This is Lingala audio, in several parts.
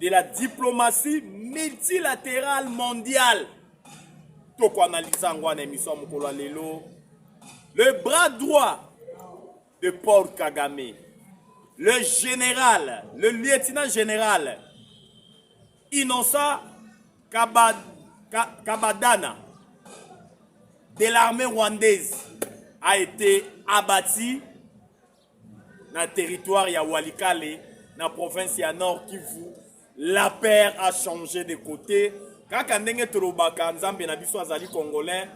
de la diplomatie multilaterale mondiale tokoanalyza yango wana emission ya mokolo ya lelo le bras droit de paul kagame le général le lieutenant général innocent Kabad, Ka, kabadana de l'armée rwandaise a été abattu na territoire ya Walikale na province ya Nord Kivu la paire a changé de côté kaka ndenge tolobaka nzambe na biso azali congolais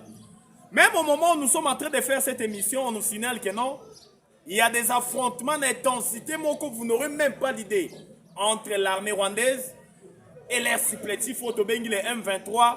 même au moment où nous sommes en train de faire cette émission on nous signale que non il y a des affrontements d'intensité moko vous n'aurez même pas l'idée entre l'armée rwandaise et les supplétifs oyo tobengi les M23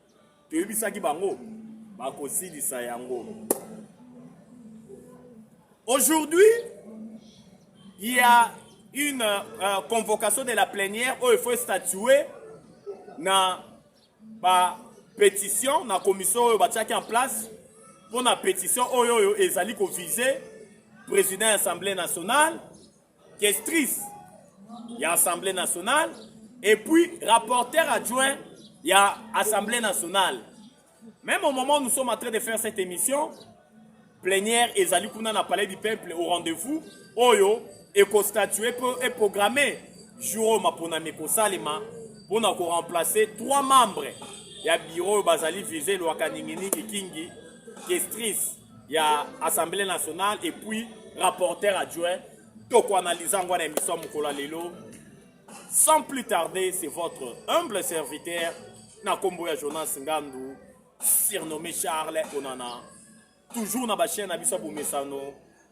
toyebisaki bango bakosilisa yango aujourd'hui il y a une euh, convocation de la plénière oyo faut statuer na ba pétition na commission oyo batiaki en place mpo na pétition oyo oyo ezali kovise président ya assemblée nationale questrice ya assemblée nationale et puis rapporteur adjoint ya assemblée nationale même au moment où nous sommes en train de faire cette émission plénière ezali kuna na palais du peuple au rendez-vous oyo ekostatue mpo eprogramme jour oyo maponami ekosalema mpo na koremplace trois membres ya biro oyo bazali vise lwaka ninginiki kingi kestris ya assemblée nationale et puis rapporteur adjoint tokoanalyse yango na émission mokolo ya lelo sans plus tarder c'est votre humble serviteur na nkombo ya jonas ngandu surnommé charles onana toujours na bachaine na biso ya bomesano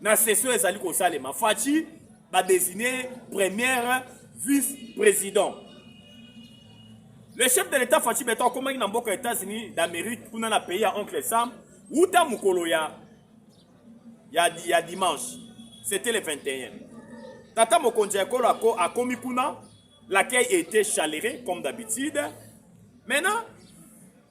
na session ezali kosalema faci badesine première vice président le chef de l'état faci beton akomaki na mboka états-unis d'amérique kuna na pays ya oncle sam wuta mokolo ya ya, ya dimanche c'était le 21 tata mokonzi ya ekolo ako akomi kuna l'accueil était chaleureux comme d'habitude maintenant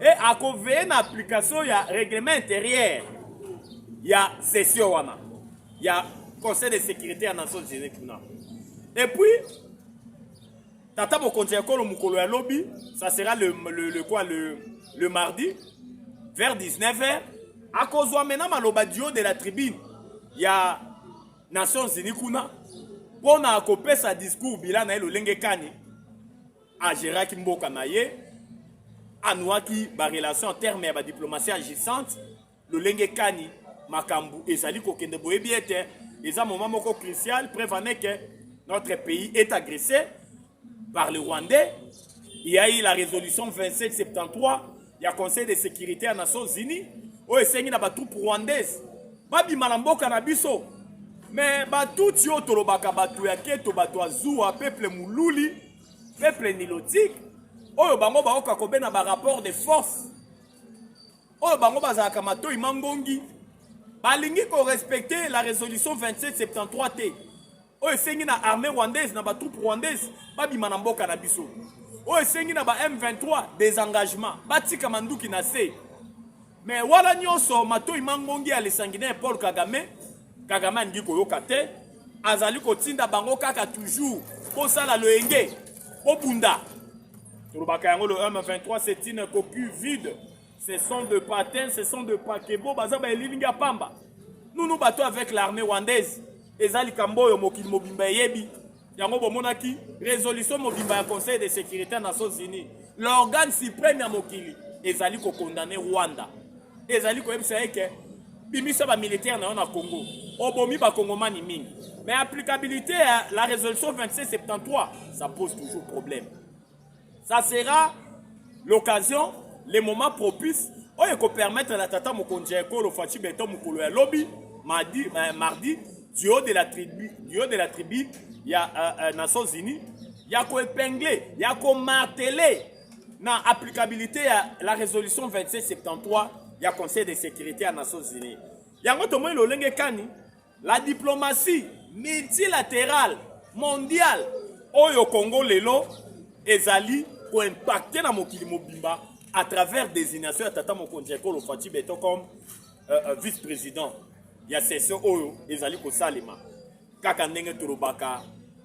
e akoveye na application ya règlement intérieur ya session wana ya conseil de sécurité ya nations unis kuna et puis tata mokonzi ya ekolo mokolo ya lobi ça sera le, le, le, quoi, le, le mardi vers 19 heures akozwa mena maloba dio de la tribune ya nations unis kuna mpo na kopesa discours bila na ye lolenge kani ageraki mboka na ye anuaki barelation en terme ya badiplomatie agissante lolenge kani makambo ezali kokende boyebi ete eza moment moko crucial preuve en est que notre pays est agressé par le rwandais il y a eu la résolution 2773 ya Conseil de securite ya Nations Unies oyo esengi na batroupe rwandaise babima na mboka na biso me batutsi oyo tolobaka bato ya keto bato ya zuwa peuple moluli peuple nilotique oyo bango baoka kobena barapport de force oyo bango bazalaka matoi mangongi balingi korespecte la résolution 2773 te oyo esengi na armée rwandaise na ba troupes rwandaise babima na mboka na biso oyo esengi na ba M23 desengagement batika manduki na se mais wana nyonso matoi mangongi ya lesanguinaire Paul Kagame Kagame alingi koyoka te azali kotinda bango kaka toujours bosala loyenge bobunda tolobaka yango le M23 c'est une coquille vide Ce sont de patins, ce sont de pakebo, baza ba elilingi ya pamba. Nous nous bateau avec l'armée rwandaise. Eza likambo oyo mokili mobimba eyebi. Yango bomonaki résolution mobimba ya Conseil de sécurité ya Nations Unies. L'organe suprême ya mokili ezali ko condamner Rwanda. Ezali koyebisa ye ke bimisa ba militaire na yo na Congo. Obomi ba kongomani mingi. Mais applicabilité ya la résolution 2673, ça pose toujours problème. Ça sera l'occasion, le moment propice oyo ekopermettre na tata mokonzi ya ekolo Fatshi Beton mokolo ya lobi mardi, euh, mardi du haut de la tribu, du haut de la tribu ya euh, euh, Nations Unies ya koepingle ya komartele na applicabilité ya la résolution 2773 ya Conseil de sécurité ya Nations Unies. Yango tomoni lolenge kani La diplomatie multilaterale mondiale oyo Congo lelo ezali koimpacte na mokili mobimba à travers désignation ya tata mokonzi ya ekolo Fatshi Beton comme euh, euh, vice-président ya session oyo ezali kosalema kaka ndenge tolobaka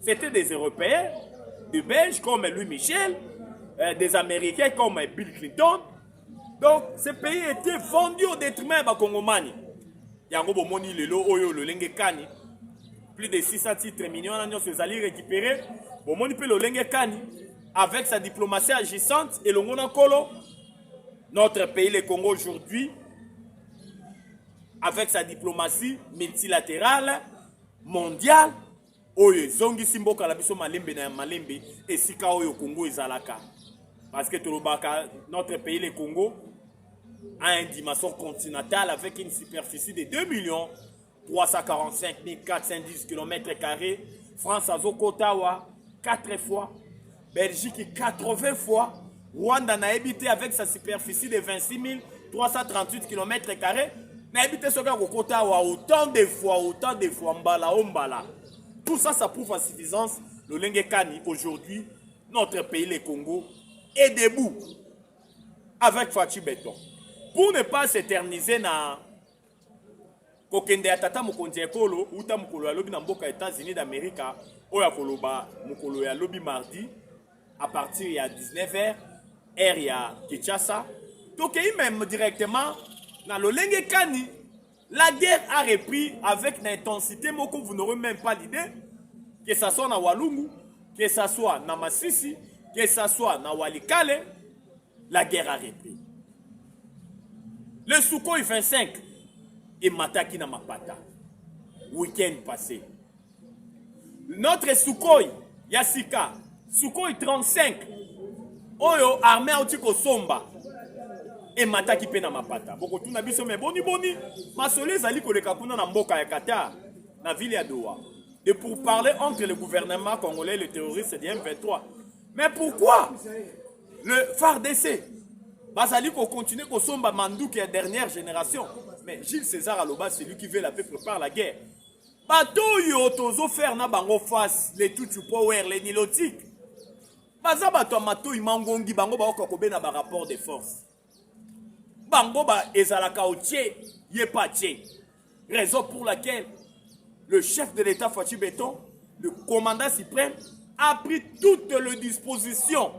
C'était des Européens, des Belges comme Louis Michel, euh, des Américains comme Bill Clinton. Donc, ce pays était vendu au détriment des Congomani. Yango bomoni lelo oyo lolenge kani plus de 600 titres millions na nyonso ezali récupéré bomoni mpe lolenge kani avec sa diplomatie agissante elongo na nkolo notre pays le congo aujourd'hui avec sa diplomatie multilatérale mondiale oyo ezongisi mboka na biso malembe na ya malembe esika oyo Congo ezalaka parce que tolobaka notre pays le Congo a une dimension continentale avec une superficie de 2 millions 345 410 km carrés France azokota wa 4 fois Belgique 80 fois Rwanda na habité avec sa superficie de 26 338 km carrés na habité soki akokota wa autant de fois autant de fois mbala o mbala tout ça ça prouve à suffisance lolenge kani aujourd'hui notre pays le Congo est debout avec Fatshi Beton pour ne pas s'éterniser na Kokende ya tata mokonzi ya ekolo uta mokolo ya lobi na mboka Etats-Unis d'America oyo akoloba mokolo ya lobi mardi à partir ya 19h heure ya Kinshasa. Tokei meme directement na lolenge kani la guerre a repris avec une intensité moko vous n'aurez même pas l'idée que ça soit na Walungu, que ça soit na Masisi, que ça soit na Walikale la guerre a repris. Le Sukhoi 25 et Mataki na Mapata, week-end passé. Notre Sukhoi, Yasika, Sukhoi 35, oyo armée auti kosomba emataki mpe na mapata bokotuna biso me boniboni masolo ezali koleka kuna na mboka ya qatar na ville ya doha de pourparler entre le gouvernement congolais et le terroriste de m23 mais pourquoi le fardc bazali kocontinue kosomba manduki ya dernière génération mais gilles césar aloba celui qui veut la paix prépare la guerre bato oyo tozofaire na bango face le tutu power le nilotique baza bato ya matoi mangongi bango baoka kobena barapport de force bango ba ezalaka otie ye pa tie raison pour laquelle le chef de l'état Fatshi Beton le commandant suprême a pris toutes les dispositions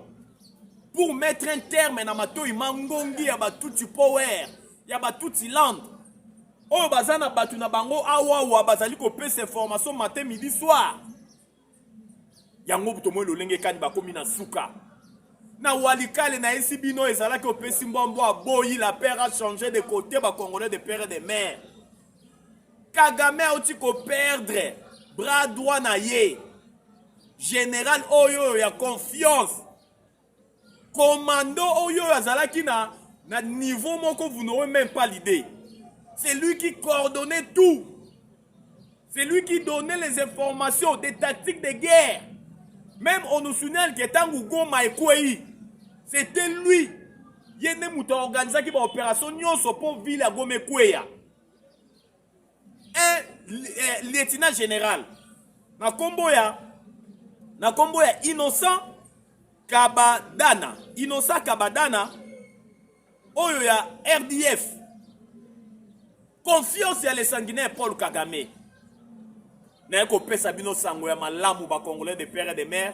pour mettre un terme na matoyi mangongi ya batuti power ya batuti land oyo baza na bato na bango awawa bazali kopesa information matin midi soir yango tomoni lolenge kani bakomi na suka na walikale na esi bino ezalaki opesi mbwa mbwa aboyi la père a change de côté ba congolais de père de mère kagame auti koperdre bras droit na ye général oyo oyo ya confiance commando oyo oyo azalaki na, na niveau moko vous n'aurez même pas l'idée c'est lui qui coordonnait tout c'est lui qui donnait les informations des tactiques de guerre même on nous signale que ntango goma ekwei c'était lui ye nde moto aorganisaki baopération nyonso mpo ville ya goma ekweya un eh, lieutenant général na kombo ya na kombo ya innocent kabadana innocent kabadana oyo ya rdf confiance ya le sanguinaire paul kagame naye kopesa bino sango ya malamu bacongolais de père et de mère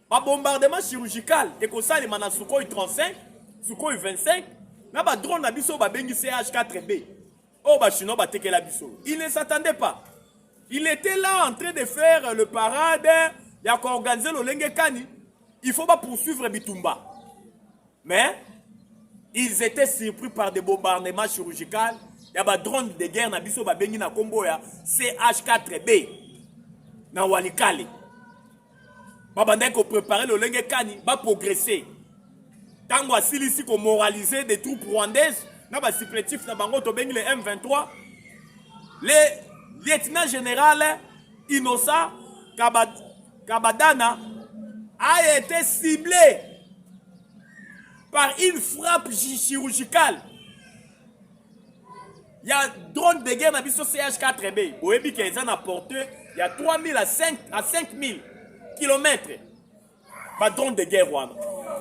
Ba bombardement chirurgical ekosalema na Sukhoi 35, Sukhoi 25 na ba drone na biso babengi CH4B oyo ba chinois batekela biso. Il ne s'attendait pas. Il était là en train de faire le parade ya koorganize lolenge kani il faut ba poursuivre bitumba. Mais ils étaient surpris par des bombardements chirurgicaux ya ba drone de guerre na biso babengi na kombo ya CH4B na Walikale. babandaki koprepare lolenge kani baprogrese ntango asilisi komoralize des troupes rwandaise na basipletif na bango tobengi le m23 le lieutenant général innocent kabadana a été ciblé par une frappe chirurgicale ya drone de guerre na biso CH4B boyebi ke eza na portée ya 3000 à 5 à 5000 km ba drone de guerre wana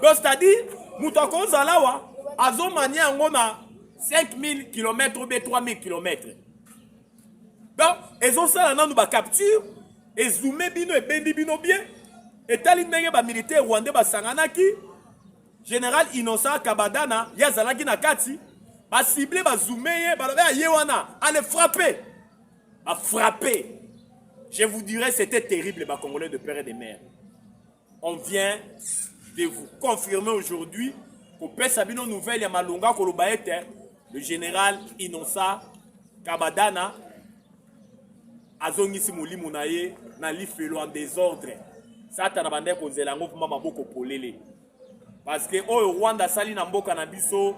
donc c'est-à-dire moto akozala awa azomania yango na 5000 km ou bien 3000 km donc ezosala nanu bacapture ezume bino ebendi bino bien etali ndenge bamilitaire rwandais basanganaki General Innocent Kabadana ye azalaki na kati ba cible ba zoome ye balobe aye ah, wana ale frappe ba frappe je vous dirais c'était terrible ba congolais de père et de mère on vient de vous confirmer aujourd'hui kopesa bino nouvelle ya malonga koloba ete le général Innocent Kabadana azongisi molimo na ye na lifelo en desordre satana bandaki konzela yango mpoma maboko polele parceke oyo rwanda asali na mboka na biso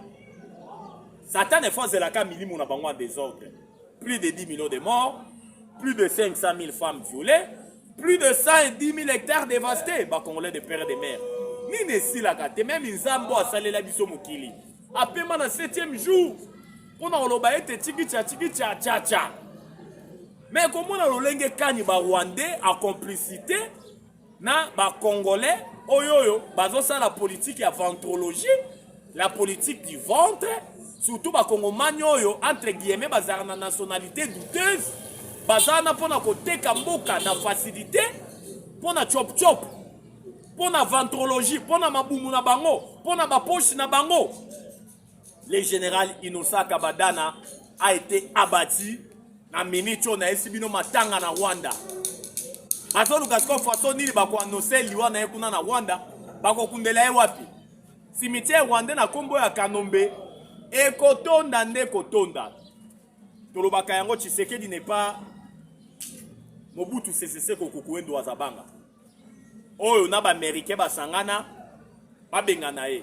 satana efo azelaka milimo na bango en desordre plus de 10 millions de morts plus de 500 000 femmes violées plus de 110 000 hectares dévastés bacongolais de père de mère nini esilaka te meme nzambe oyo asalela biso mokili apema na 7e jour mpona koloba ete chikicha chikicha chacha me komona lolenge kani barwandais a complicité na bacongolais oyo oyo bazosala politike ya ventrologie la politique du ventre surtout bakongomani oyo entre guillemets bazalaka na nationalité douteuse baza wana mpona koteka mboka na facilité mpona chopchop mpona ventrologie mpona mabumu na bango mpona baposhi na bango Le general Innocent Kabadana a été abattu na minute oyo nayesi bino matanga na Rwanda. Bazoluka sikoyo faso nini bakoanonse liwa na ye kuna na Rwanda, bakokundela ye wapi? Cimetière rwandais na kombo ya Kanombe ekotonda nde kotonda. Tolobaka yango Tshisekedi n'est pas Mobutu Sese Seko Kukuendo Azabanga. Oyo na ba Américains basangana babengana ye.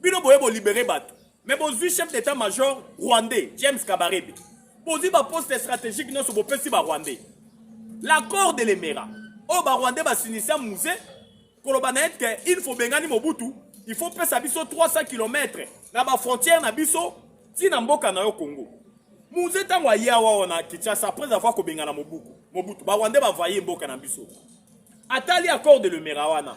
bino boye bolibere bato me bozwi chef d'état major rwandais james kabarebe bozwi baposte stratégique nyonso bopesi barwandais l'accord de lemera oyo barwandais basinisia muse koloba na ete il faut bengani mobutu il faut pesa biso 300 km na bafrontière na biso ntina mboka na yo congo muse ntango aye awa wana kinshasa après avoir kobengana mobuku mobutu barwandais bavaye mboka na biso atali accord de lemera wana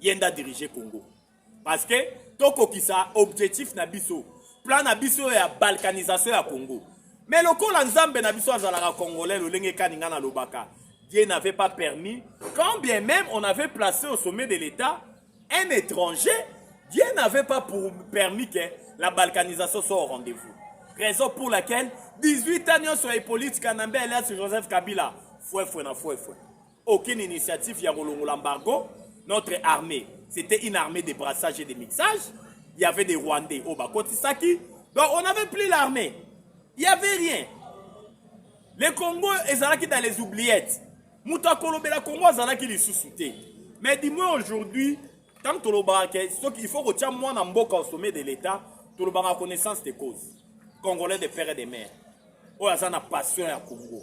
ye nda dirige congo parce que tokokisa objectif na biso plan na biso ya balkanisation ya congo mais lokola nzambe na biso azalaka congolais lolenge kani ngai nalobaka dieu n'avait pas permis quand bien même on avait placé au sommet de l'état un étranger dieu n'avait pas pour permis que la balkanisation soit au rendez-vous raison pour laquelle 18 ans nyonso ya hippolyte kanambe alias joseph kabila fwefwe na fwefwe aucune initiative ya kolongola embargo notre armée c'était une armée de brassage et de mixage il y avait des rwandais oyo bakotisaki donc on avait plus l'armée il y avait rien le congo ezalaki dans les oubliettes moto akolobela congo azalaki lisusu te mais du moins aujourd'hui ntango tolobaka ke soki il faut kotia mwana mboka au sommet de l'état tolobaka connaissance de cause congolais de père et de mère oyo aza na passion ya congo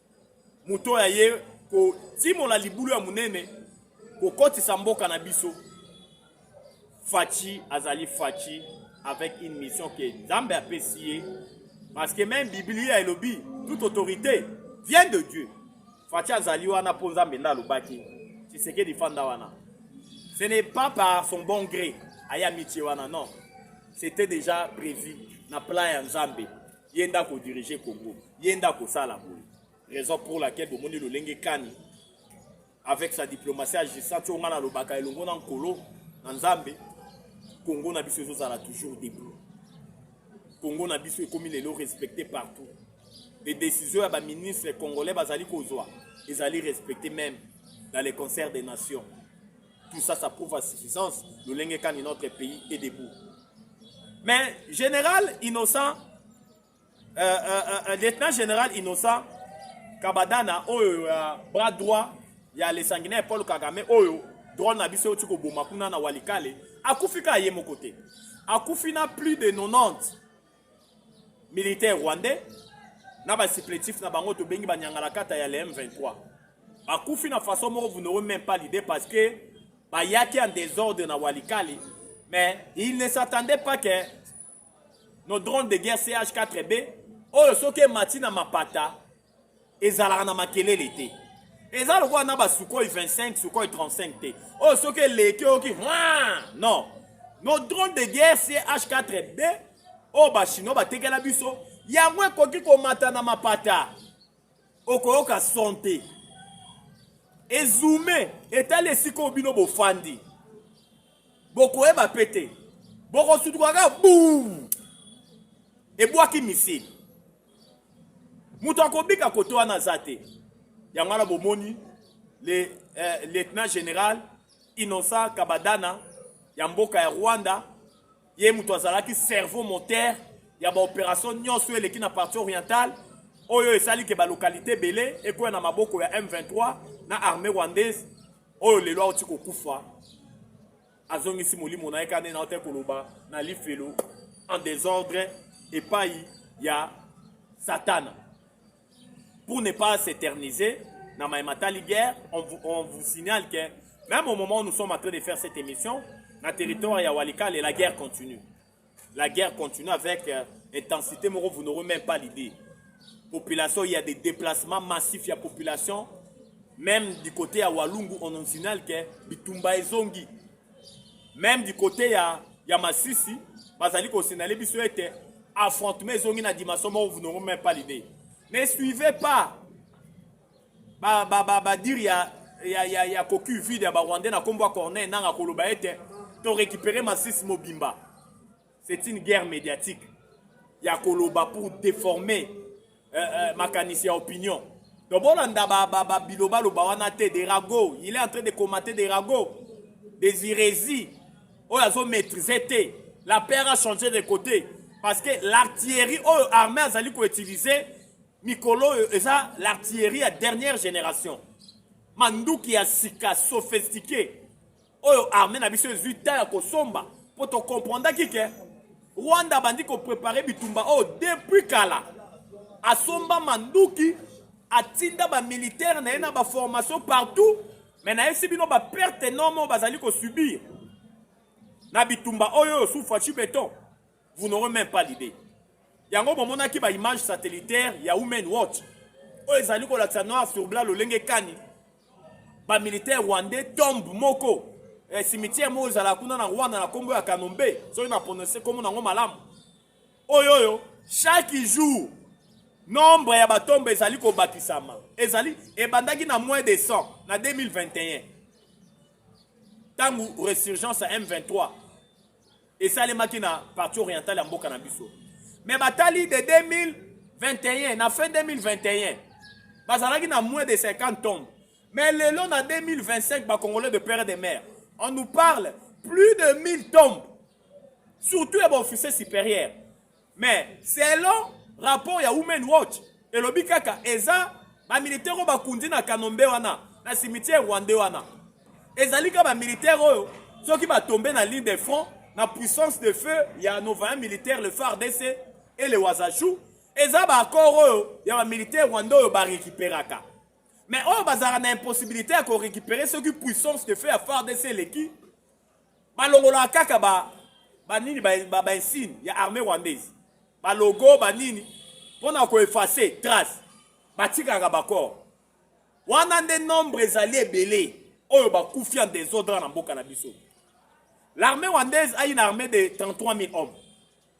moto oyo aye kotimola libulu ya monene kokotisa mboka na biso faci azali faci avec une mission ke nzambe apesi ye parce que même biblia elobi toute autorité vient de dieu faci azali wana mpo nzambe nde alobaki tshisekedi fanda wana ce n'est pas par son bon gré aya mitie wana non c'était déjà prévu na plan ya nzambe ye nde ako dirige congo ye nde akosala boye raison pour laquelle bomoni lolenge kani avec sa diplomatie agissant ti onga nalobaka elongo na nkolo na nzambe congo na biso ezozala toujours debout congo na biso ekomi lelo respecté partout les décisions ya baministre congolais bazali kozwa ezali respecté même dans les concerts des nations Tout ça, ça prouve à suffisance le lenge kani notre pays est debout. Mais général innocent, euh, euh, euh, lieutenant général innocent, Kabadana, oyo ya bras droit ya le sanguinaire Paul Kagame, oyo drone na biso euti koboma kuna na Walikale, akufi kaka ye moko te. Akufi na plus de 90 militaire rwandais na ba supplétifs na bango tobengi ba nyangalakata ya le M23 bakufi na façon moko vous n'aurez même pas l'idée parce que bayaki en désordre na Walikale mais il ne s'attendait pas que nos drones de guerre CH4B oyo soki emati na mapata ezalaka na makelele te eza lokola na basukoi 25 sukoi 35 te oyo oh, soki eleki oyoki non nos drone de guerre ch4b oyo oh, bachinois batekela biso yango ekoki komata na mapata okoyoka son te ezume etali esika oyo bino bofandi bokoyeba mpe te bokosutuka kaka buu ebwaki misili moto akobika kote wana aza te yango wana bomoni le eh, lieutenant général innocent kabadana ya mboka ya rwanda ye moto azalaki cerveau moteur ya baopération nyonso oyo eleki na partie orientale oyo esali ke balokalité ebele ekoya na maboko ya m23 na armée rwandaise oyo lelo auti kokufa azongisi molimo na ye kaka nde na ote koloba na lifelo en desordre epai ya satana pour ne pas s'éterniser na maye matali guerre on vous, on vous signale que même au moment où nous sommes en train de faire cette émission na territoire ya walikale la guerre continue La guerre continue avec euh, intensité moko vous n'aurez même pas l'idée. Population, il y a des déplacements massifs, il y a population même du côté à Walungu on en signale que bitumba ezongi. Même du côté ya ya Masisi, bazali ko signaler biso ete affrontement ezongi na dimension moko vous n'aurez même pas l'idée. Ne suivez pas ba ba ba ba dire ya ya ya, ya cocu vide ya ba rwandais na kombo ya corneille nanga koloba ete to récupérer masisi mobimba c'est une guerre médiatique ya koloba pour déformer euh, euh, makanisi ya opinion donc bolanda ba, ba, ba biloba loba wana te de rago il est en train de commenter de rago des hérésies oyo azo maîtriser te la paire a changé de côté parce que l'artillerie oyo armée azali koutiliser mikolo oyo eza l'artillerie ya dernière génération manduki ya sika sophistiqué oyo armée na biso ezwi temps ya kosomba mpo tokomprendaki ke rwanda abandi koprepare bitumba oyo depuis kala asomba manduki atinda bamilitaire na ye na baformation partout me nayebisi bino baperte enorme oyo bazali kosubir na bitumba oyo oyo sufaci beton vous n'aurez même pas l'idée yango bomonaki ba image satellitaire ya women watch oyo ezali kolakisa noir sur blanc lolenge kani ba militaire rwandais tombe moko eh, cimetière moko ezala kuna na rwanda na kombo ya kanombe soki na prononce kombo nango malamu oyo oyo chaque jour nombre ya batombe ezali kobakisama ezali ebandaki na moins de 100 na 2021 ntango resurgence ya m23 esalemaki na partie orientale ya mboka na biso mais batali de 2021 na fin 2021 bazalaki na moins de 50 tombes mais lelo na 2025 bacongolais de père et de mère on nous parle plus de 1000 tombes surtout ya baofficier supérieur mais selon rapport ya women watch elobi kaka eza bamilitaire oyo bakundi na kanombe wana na cimetière rwande wana ezali kaka bamilitaire oyo soki batombe na ligne de front na puissance de feu ya novaya militaire le fardc et le wazachou eza baaccord oyo ya bamilitaire rwande oyo barekiperaka mais oyo bazalaka na impossibilité ya korekipere soki puissance de feu ya fardc eleki balongolaka kaka ba ba nini ba, ba, ba insigne ya armée rwandaise ba logo ba nini mpona ko effacer trace batikaka bacor wana nde nombre ezali ebele oyo bakufi en desordre na mboka na biso l'armée rwandaise ayi na armée de 33 000 hommes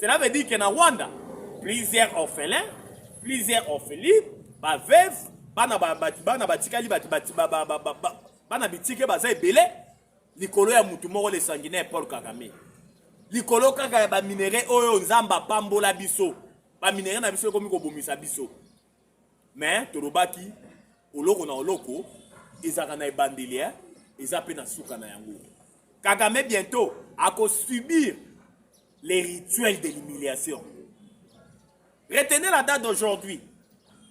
Cela veut dire que na Rwanda, plusieurs orphelins, plusieurs orphelines, ba veuves, bana ba bana batikali bati bati ba ba ba ba bana bitike baza ebele likolo ya mutu moko le sanguinaire Paul Kagame. Likolo kaka ya ba minerais oyo Nzambe apambola biso. Ba minerais na biso ekomi kobomisa biso. mais tolobaki oloko na oloko ezalaka na ebandeli eh? eza mpe na suka na yango kagame bientôt akosubir les rituels de l'humiliation retenez la date d'aujourd'hui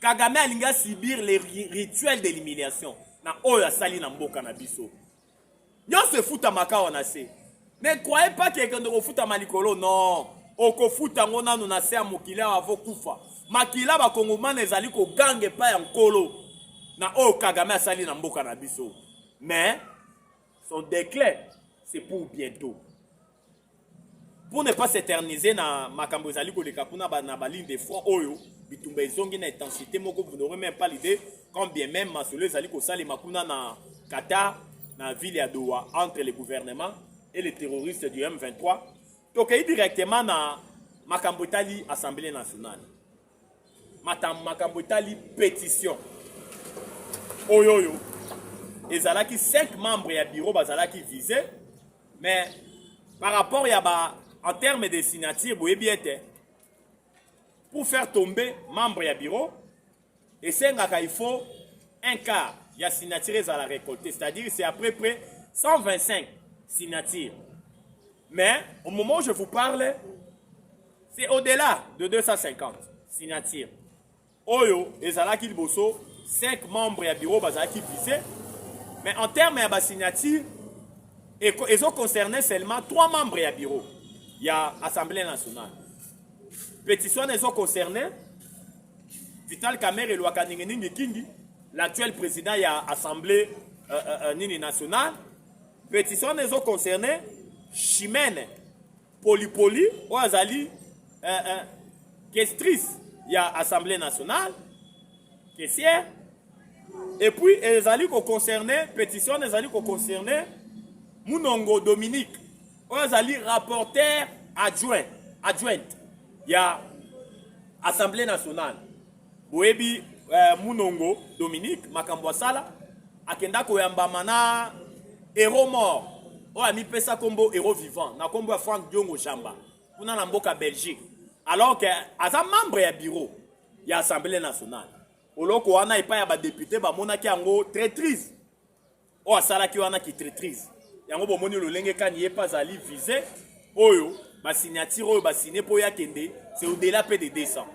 kagame alingi asubir les rituels de l'humiliation na oyo asali na mboka na biso Nionso efutamaka awa na se. Ne croyez pas que ekende kofutama likolo non. Okofuta ngo nanu na se ya mokili awa avo kufa. Makila ba kongomana ezali koganga epai ya nkolo na oyo Kagame asali na mboka na biso. Mais son declin c'est pour bientot. pour ne pas s'éterniser na makambo ezali koleka kuna ba, na baligne de front oyo bitumba ezongi na intensité moko vous n'aurez même pas l'idée quand bien même masolo ezali kosalema kuna na qatar na ville ya doha entre le gouvernement et les terroristes du m23 tokei directement na makambo etali assemblée nationale matam makambo etali petition oyo oyo ezalaki 5 membres ya bureau bazalaki vise mais par rapport ya ba en terme de signature boyebi ete pour faire tomber membre ya bureau esengaka il faut un quart ya signature ezala récolté c'est-à-dire c'est à peu près 125 signatures mais au moment où je vous parle C'est au-delà de 250 signatures. Oyo ezalaki liboso 5 membres ya bureau bazalaki visés, mais en termes ya ba signatures ezo concerner seulement 3 membres ya bureau ya Assemblée nationale. Petition ezo concerner Vital Kamerhe Lwakanenge Ningi Kingi, l'actuel président ya Assemblée euh, euh, euh, nini nationale. Petition ezo concerner Chimene polipoli oyo azali eh, eh, kestrice ya assemblée nationale kesier epuis ezali koconcerne pétition wana ezali koconcerne munongo dominique oyo azali rapporteur adjoint adjointe ya assemblée nationale Boyebi eh, Munongo Dominique makambo asala akenda koyambama na hero mort oyo amipesa kombo hero vivant na kombo ya Frank Diongo Jamba kuna na mboka Belgique alors que aza membre ya bureau ya Assemblée nationale oloko wana epai ya badepute bamonaki yango traitrise oyo asalaki wana kitritrise yango bomoni lolenge kani ye mpe azali vise oyo basignature oyo basigne mpo ye akende c'est au-delà mpe de 200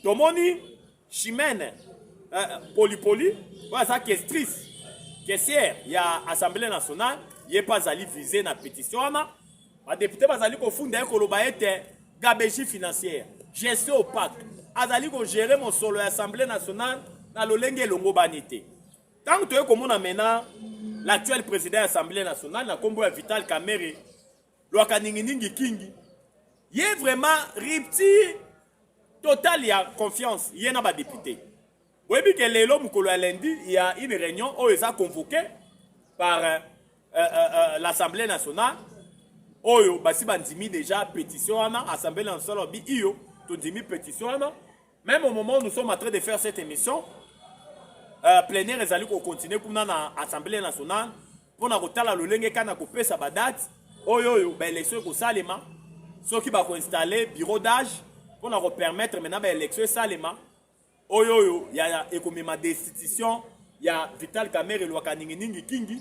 tomoni chimene euh, polipoli oyo aza kestrice kesiere ya assemblée nationale ye mpe azali vise na pétition wana badepute bazali kofunda ye koloba ete gabegie financière gestion opaque azali kogere mosolo ya assemblée nationale na lolenge elongobani te Tango toye komona mena l'actuel président ya Assemblée nationale na kombo ya Vital Kamerhe lwaka ningi ningi kingi ye vraiment rupture total ya confiance ye na badepute boyebi ke lelo mokolo ya lundi ya une réunion oyo eza convoqué par euh, euh, euh, l'assemblée nationale oyo basi bandimi déjà pétition wana assemblée nationale alobi iyo tondimi pétition wana Meme au moment où nous sommes en train de faire cette émission, euh, plénière ezali ko continuer kuna na Assemblée nationale pona kotala lolenge kana kopesa ba dates oyo oyo ba élection ekosalema soki bako installer bureau d'âge pona ko permettre maintenant ba élection esalema oyo oyo ya ekomema destitution ya Vital Kamerhe Lwakaninginingi Kingi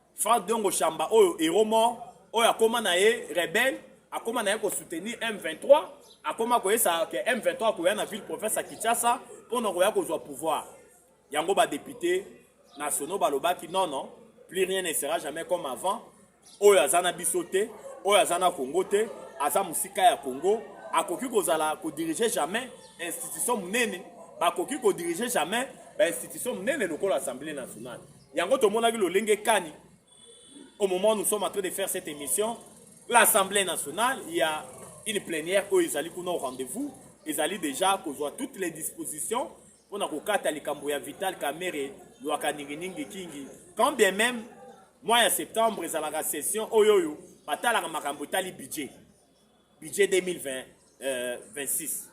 Franck Diongo Shamba oyo hero mort oyo akoma na ye rebelle akoma na ye kosoutenir M23 akoma koyesa ke M23 akoya na ville province ya Kinshasa mpo na koya kozwa pouvoir yango badepute nationaux balobaki non non plus rien ne sera jamais comme avant oyo aza na biso te oyo aza na Congo te aza mosika ya Congo akoki kozala kodirige jamais institution monene bakoki kodirige jamais bainstitution monene lokola assemblée nationale Yango tomonaki lolenge kani au moment nous sommes en train de faire cette émission, l'Assemblée nationale, il y a une plénière oyo ezali kuna au rendez-vous, ezali déjà kozwa toutes les dispositions mpo na kokata likambo ya Vital Kamerhe lwaka ninginingi kingi quand bien même mois ya septembre ezalaka session oyo oyo batalaka makambo etali budget budget 2026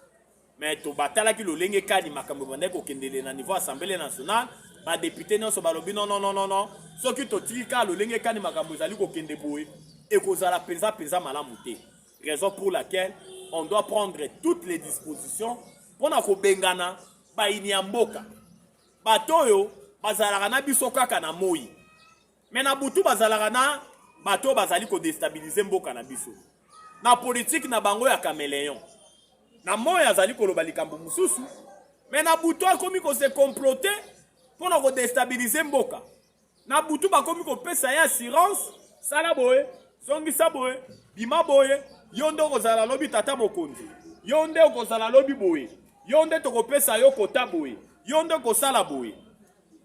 mais tobatalaki lolenge kani makambo ebandaki kokendele na niveau assemblée nationale badepute nyonso balobi nonononono soki totiki kaka lolenge kani makambo ezali kokende boye ekozala mpenza mpenza malamu te raison pour laquelle on doit prendre toutes les dispositions mpo na kobengana bayini ya mboka bato oyo bazalaka na biso kaka na moi Mais na butu bazalaka na bato bazali ko destabiliser mboka na biso. Na politique na bango ya cameleon. Na moyo azali koloba likambo mosusu, mais na butu akomi ko se comploter pona ko destabiliser mboka. Na butu bakomi kopesa ye assurance, sala boye, zongisa boye, bima boye, yo nde okozala lobi tata mokonzi. Yo nde okozala lobi boye. Yo nde tokopesa yo kota boye. Yo nde okosala boye.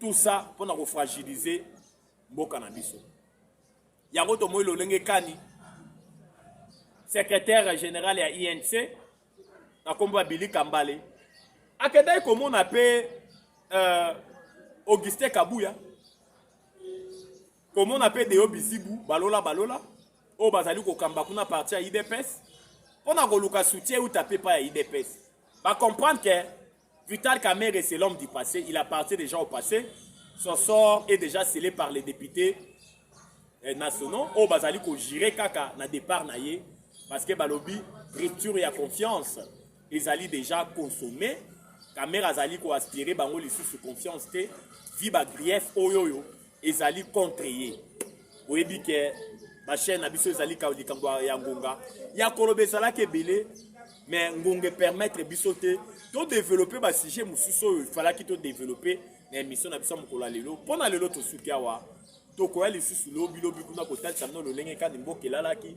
tout ça mpo na kofragilize mboka na biso yango tomoi lolenge kani secrétaire général ya inc na nkombo ya bili kambale akendaki komona mpe euh, augustin kabuya komona mpe deo bizibu balola balola oyo bazali kokamba kuna parti ya idps mpo na koluka soutien euta mpe epai ya idps bacomprendre ke Vital Kamerhe, c'est l'homme du passé. Il appartient déjà au passé. Son sort est déjà scellé par les députés eh, nationaux. Oh, bazali ko gérer kaka na départ na ye. Parce que balobi, rupture ya confiance. Ils allaient déjà consommer. Kamerhe azali ko aspirer bango lisusu confiance te. Viva grief oyoyo. ezali contre ye oyebi ke bachaine na biso ezali likambo ya ngonga ya koloba ezalaki ebele mais ngonga epermettre biso te todeveloppe basujet mosusu oyo efalaki todeveloppe na émission na biso ya mokolo ya lelo mpo na lelo tosuki awa tokoya lisusu lobilobi kuna kotalisa bino lolenge kani mboka elalaki